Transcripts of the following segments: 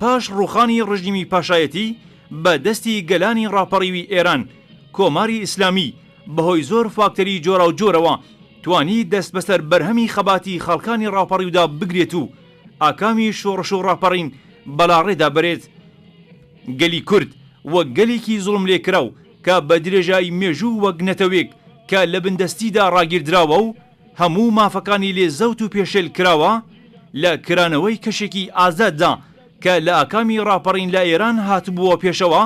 پاش ڕووخانی ڕژیمی پاشایەتی بە دەستی گەلانی ڕاپەڕیوی ئێران، کۆماری ئیسلامی بە هۆی زۆر فاکتەری جۆراوجۆرەوە توانی دەست بەسەر بەرهەمی خەباتی خەڵکانی ڕاپەڕیودا بگرێت و ئاکامی شۆڕش و ڕاپەڕین بەلاڕێدا بەرێت. گەلی کورد وەک گەلێکی زوڵملێکراو کە بە درێژایی مێژوو وەک نەتەوێک کە لە بندەستیدا ڕاگیردراوە و، هەموو مافەکانی لێ زەوت و پێشێل کراوە لە کرانەوەی کەشێکی ئازاددا کە لە ئاکامی ڕاپەڕین لە ئێران هاتبووە پێشەوە،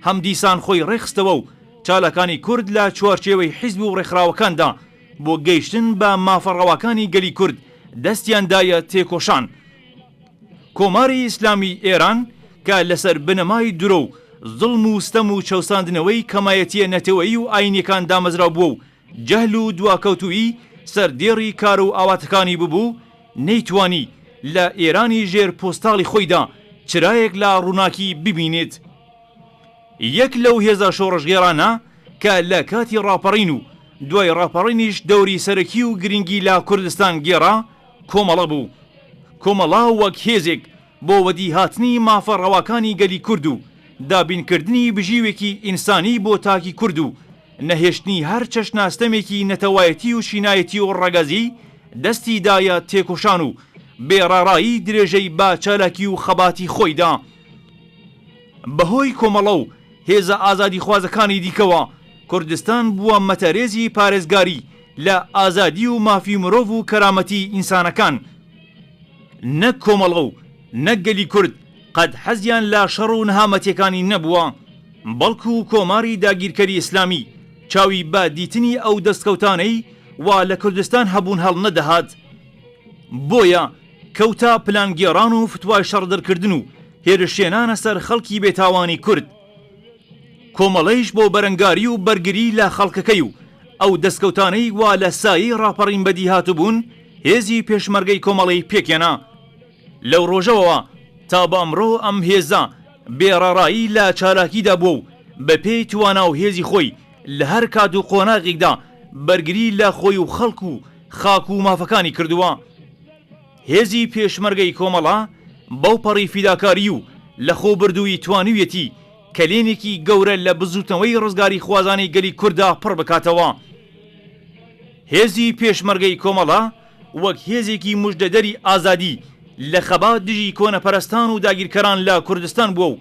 هەم دیسان خۆی ڕێکخستەوە و چالاکانی کورد لە چوارچێوەی حیزب و ڕێکخراوەکاندا بۆ گەیشتن بە مافە ڕەواکانی گەلی کورد دەستیان دایە تێکۆشان. کۆماری ئیسلامیی ئێران کە لەسەر بنەمای درۆ و زوڵم و ستەم و چەوساندنەوەی کەمایەتییە نەتەوەیی و ئایینییەکان دامەزراو بووە و جەهل و دواکەوتوویی سەردێڕی کار و ئاواتەکانی ببوو، نەیتوانی لە ئێرانی ژێر پۆستاڵی خۆیدا چرایەک لە ڕووناکی ببینێت. یەک لەو هێزە شۆڕشگێڕانە کە لە کاتی ڕاپەڕین و دوای ڕاپەڕینیش دەوری سەرەکی و گرینگی لە کوردستان گێڕا، کۆمەڵە بوو. کۆمەڵە وەک هێزێک، بۆ وەدیهاتنی مافە ڕەواکانی گەلی کورد و دابینکردنی بژیوێکی ئینسانی بۆ تاکی کورد و نەهێشتنی هەر چەشنە ستەمێکی نەتەوایەتی و چینایەتی و ڕەگەزیی دەستی دایە تێکۆشان و بێ ڕاڕایی درێژەی بە چالاکی و خەباتی خۆی دا بە هۆی کۆمەڵە و هێزە ئازادیخوازەکانی دیکەوە کوردستان بووە مەتەرێزی پارێزگاری لە ئازادی و مافی مرۆڤ و کەرامەتی ئینسانەکان. نەک کۆمەڵە و نەک گەلی کورد قەت حەزیان لە شەڕ و نەهامەتیەکانی نەبووە، بەڵکو کۆماری داگیرکەری ئیسلامی چاوی بە دیتنی ئەو دەستکەوتانەی وا لە کوردستان هەبوون هەڵنەدەهات. بۆیە کەوتە پلانگێڕان و فتوای شەڕدەرکردن و هێرشهێنانە سەر خەڵکی بێتاوانی کورد. کۆمەڵەیش بۆ بەرەنگاری و بەرگری لە خەڵکەکەی و ئەو دەستکەوتانەی وا لە سایەی ڕاپەڕین بەدی هاتبوون، هێزی پێشمەرگەی کۆمەڵەی پێکهێنا. لەو ڕۆژەوەوە تا بە ئەمڕۆ ئەم هێزە بێ ڕەڕایی لە چالاکیدا بووە و بە پێی توانا و هێزی خۆی لە هەر کات و قۆناغێکدا بەرگری لە خۆی و خەڵک و خاک و مافەکانی کردووە. هێزی پێشمەرگەی کۆمەڵە بەوپەڕی فیداکاری و لەخۆبردوویی توانیویەتی کەلێنێکی گەورە لە بزووتنەوەی ڕزگاریخوازانەی گەلی کورددا پڕ بکاتەوە. هێزی پێشمەرگەی کۆمەڵە وەک هێزێکی مژدەدەری ئازادی لە خەبات دژی کۆنەپەرستان و داگیرکەران لە کوردستان بووە و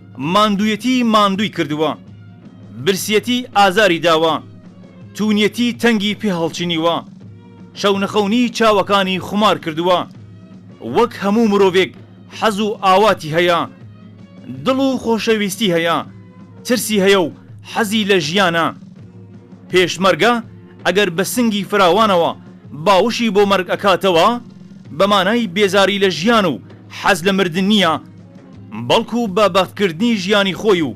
ماندوویەتی ماندووی کردووە. برسیەتی ئازاری داوە. توونیەتی تەنگی پێ هەڵچنیوە. شەونەخەونی چاوەکانی خومار کردووە. وەک هەموو مرۆڤێک حەز و ئاواتی هەیە. دڵ و خۆشەویستی هەیە. ترسی هەیە و حەزی لە ژیانە. پێشمەرگە ئەگەر بە سنگی فراوانەوە باوشی بۆ مەرگ ئەکاتەوە، بە مانای بێزاری لە ژیان و حەز لە مردن نییە، بەڵکو بە بەختکردنی ژیانی خۆی و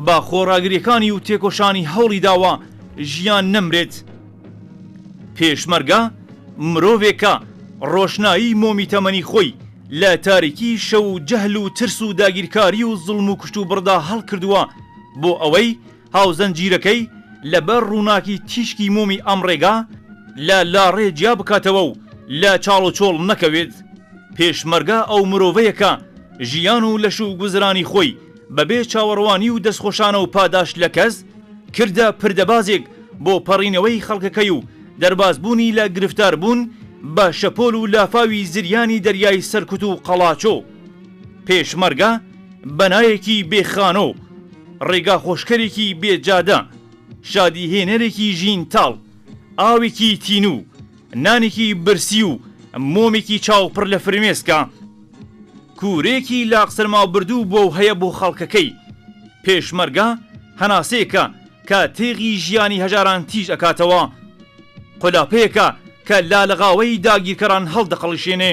بە خۆڕاگریەکانی و تێکۆشانی هەوڵی داوە ژیان نەمرێت. پێشمەرگە مرۆڤێکە ڕۆشنایی مۆمی تەمەنی خۆی لە تاریکی شەو و جەهل و ترس و داگیرکاری و زوڵم و کوشتوبڕدا هەڵکردووە بۆ ئەوەی هاوزنجیرەکەی لە بەر ڕووناکی تیشکی مۆمی ئەم ڕێگا لە لاڕێ جیا بکاتەوە و لە چاڵ و چۆڵ نەکەوێت. پێشمەرگە ئەو مرۆڤەیە کە ژیان و لەش و گوزرانی خۆی بە بێ چاوەڕوانی و دەستخۆشانە و پاداشت لە کەس، کردە پردەبازێک بۆ پەڕینەوەی خەڵکەکەی و دەرباز بوونی لە گرفتار بوون بە شەپۆل و لافاوی زریانی دەریای سەرکوت و قەڵاچۆ. پێشمەرگە بەنایەکی بێ خانۆ، ڕێگا خۆشکەرێکی بێ جادە، شادی هێنەرێکی ژین تاڵ، ئاوێکی تینوو، نانێکی برسی و مۆمێکی چاو پڕ لە فرمێسکە، کورەیەکی لاق سەرمابردوو بووە و هەیە بۆ خەڵکەکەی. پێشمەرگە هەناسەیەکە کە تێغی ژیانی هەژاران تیژ ئەکاتەوە. قولاپەیەکە کە لالەغاوەی داگیرکەران هەڵدەقەڵشێنێ.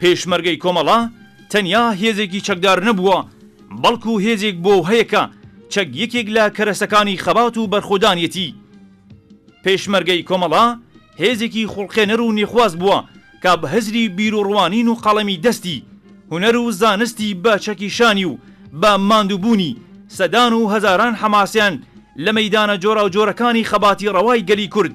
پێشمەرگەی کۆمەڵە تەنیا هێزێکی چەکدار نەبووە، بەڵکو هێزێک بۆو هەیە کە چەک یەکێک لە کەرەسەکانی خەبات و بەرخۆدانیەتی. پێشمەرگەی کۆمەڵە هێزێکی خوڵقێنەر و نێخواز بووە کە بە هزری بیروڕوانین و قەڵەمی دەستی، هونەر و زانستی بە چەکی شانی و بە ماندووبوونی سەدان و هەزاران حەماسیان لە مەیدانە جۆراوجۆرەکانی خەباتی ڕەوای گەلی کورد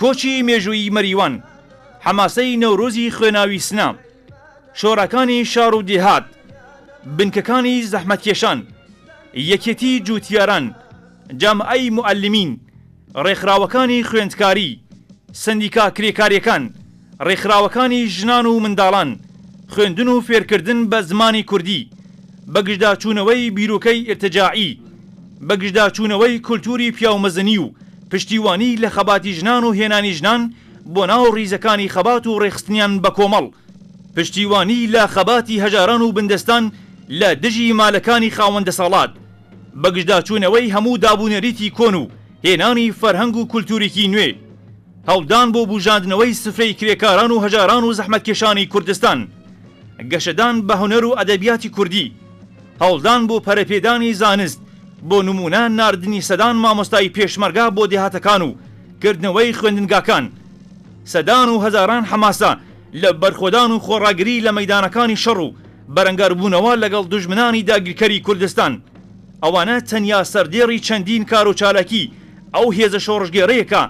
کۆچی مێژوویی مەریوان، حەماسەی نەورۆزی خوێناوی سنە، شۆڕەکانی شاڕ و دێهات، بنکەکانی زەحمەتکێشان، یەکێتی جووتیاران، جامعەی موعەلیمین، ڕێکخراوەکانی خوێندکاری، سەندیکا کرێکارییەکان، ڕێکخراوەکانی ژنان و منداڵان، خوێندن و فێرکردن بە زمانی کوردی، بەگژداچوونەوەی بیرۆکەی ئیرتجاعی، بەگژداچوونەوەی کولتووری پیاومەزنی و پشتیوانی لە خەباتی ژنان و هێنانی ژنان بۆ ناو ڕیزەکانی خەبات و ڕێکخستنیان بە کۆمەڵ، پشتیوانی لە خەباتی هەژاران و بندەستان لە دژی مالەکانی خاوەن دەسەڵات، بەگژداچوونەوەی هەموو دابونەریتی کۆن و هێنانی فەرهەنگ و کولتووریی نوێ. هەوڵدان بۆ بوژاندنەوەی سفرەی کرێکاران و هەژاران و زەحمەتکێشانی کوردستان، گەشەدان بە هونەر و ئەدەبیاتی کوردی، هەوڵدان بۆ پەرەپێدانی زانست، بۆ نموونە ناردنی سەدان مامۆستای پێشمەرگە بۆ دێهاتەکان و کردنەوەی خوێندنگاکان، سەدان و هەزاران حەماسە لە بەرخۆدان و خۆڕاگری لە مەیدانەکانی شەڕ و بەرەنگاربوونەوە لەگەڵ دوژمنانی داگیرکەری کوردستان، ئەوانە تەنیا سەردێڕی چەندین کار و چالاکی ئەو هێزە شۆڕشگێڕەیە کە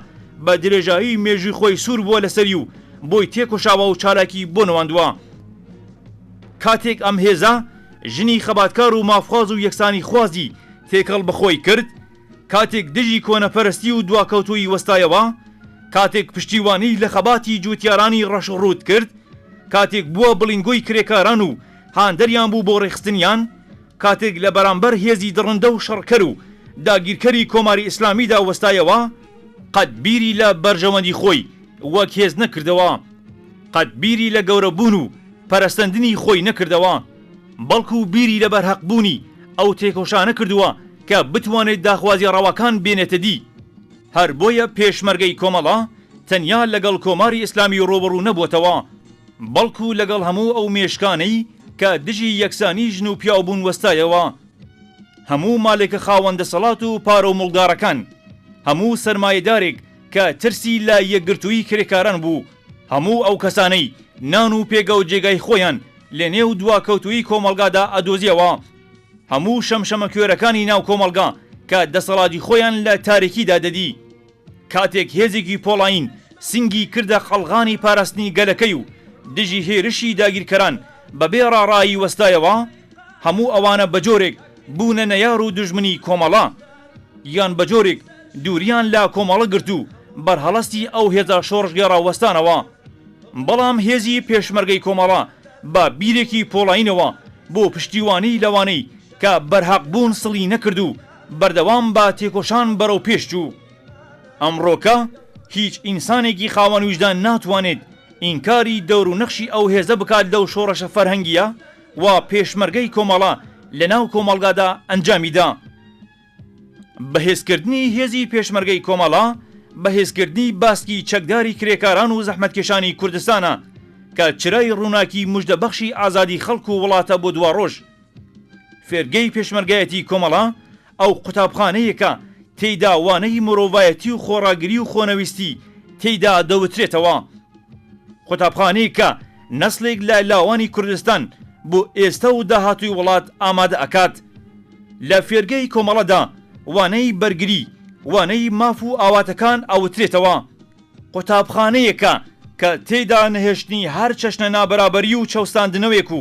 بە درێژایی مێژووی خۆی سوور بووە لەسەری و بۆی تێکۆشاوە و چالاکی بۆ نواندووە. کاتێک ئەم هێزە ژنی خەباتکار و مافخواز و یەکسانیخوازی تێکەڵ بە خۆی کرد، کاتێک دژی کۆنەپەرستی و دواکەوتوویی وەستایەوە، کاتێک پشتیوانی لە خەباتی جووتیارانی ڕەش و ڕووت کرد، کاتێک بووە بڵیندگۆی کرێکاران و هاندەریان بوو بۆ ڕێکخستنیان، کاتێک لە بەرامبەر هێزی دڕندە و شەڕکەر و داگیرکەری کۆماری ئیسلامیدا وەستایەوە، قەت بیری لە بەرژەوەندی خۆی وەک هێز نەکردەوە، قەت بیری لە گەورەبوون و پەرەسەندنی خۆی نەکردەوە، بەڵکو بیری لە بەرهەقبوونی ئەو تێکۆشانە کردووە کە بتوانێت داخوازیە ڕەواکان بێنێتە دی. هەر بۆیە پێشمەرگەی کۆمەڵە تەنیا لەگەڵ کۆماری ئیسلامی ڕووبەڕوو نەبووەتەوە، بەڵکو لەگەڵ هەموو ئەو مێشکانەی کە دژی یەکسانی ژن و پیاو بوون وەستایەوە، هەموو مالێکە خاوەن دەسەڵات و پارەو مڵدارەکان، هەموو سەرمایەدارێک کە ترسی لە یەکگرتووی کرێکاران بوو، هەموو ئەو کەسانەی نان و پێگەو جێگای خۆیان لە نێو دواکەوتوویی کۆمەڵگادا ئەدۆزیەوە، هەموو شەمشەمەکوێرەکانی ناو کۆمەڵگا کە دەسەڵاتی خۆیان لە تاریکیدا دەدی. کاتێک هێزێکی پۆڵایین سنگی کردە قەڵغانی پاراستنی گەلەکەی و دژی هێرشی داگیرکەران بە بێ ڕاڕایی وەستایەوە، هەموو ئەوانە بە جۆرێک بوونە نەیار و دوژمنی کۆمەڵە، یان بە جۆرێک دووریان لە کۆمەڵە گرت و بەرهەڵستی ئەو هێزە شۆڕشگێڕە وەستانەوە. بەڵام هێزی پێشمەرگەی کۆمەڵە بە بیرێکی پۆڵایینەوە بۆ پشتیوانی لەوانەی کە بەرهەق بوون سڵی نەکرد و بەردەوام بە تێکۆشان بەرەو پێش چوو. ئەمڕۆکە هیچ ئینسانێکی خاوەن ویژدان ناتوانێت ئینکاری دەور و نەخشی ئەو هێزە بکات لەو شۆڕشە فەرهەنگییە وا پێشمەرگەی کۆمەڵە لە ناو کۆمەڵگادا ئەنجامی دا. بەهێزکردنی هێزی پێشمەرگەی کۆمەڵە بەهێزکردنی باسکی چەکداری کرێکاران و زەحمەتکێشانی کوردستانە کە چرای ڕووناکی مژدەبەخشی ئازادی خەڵک و وڵاتە بۆ دواڕۆژ. فێرگەی پێشمەرگایەتی کۆمەڵە ئەو قوتابخانەیە کە تێیدا وانەی مرۆڤایەتی و خۆڕاگری و خۆنەویستی تێیدا دەوترێتەوە. قوتابخانەیەک کە نەسڵێک لە لاوانی کوردستان بۆ ئێستە و داهاتووی وڵات ئامادە ئەکات. لە فێرگەی کۆمەڵەدا وانەی بەرگری، وانەی ماف و ئاواتەکان ئەوترێتەوە. قوتابخانەیەکە کە تێیدا نەهێشتنی هەر چەشنە نابەرابەری و چەوساندنەوێک و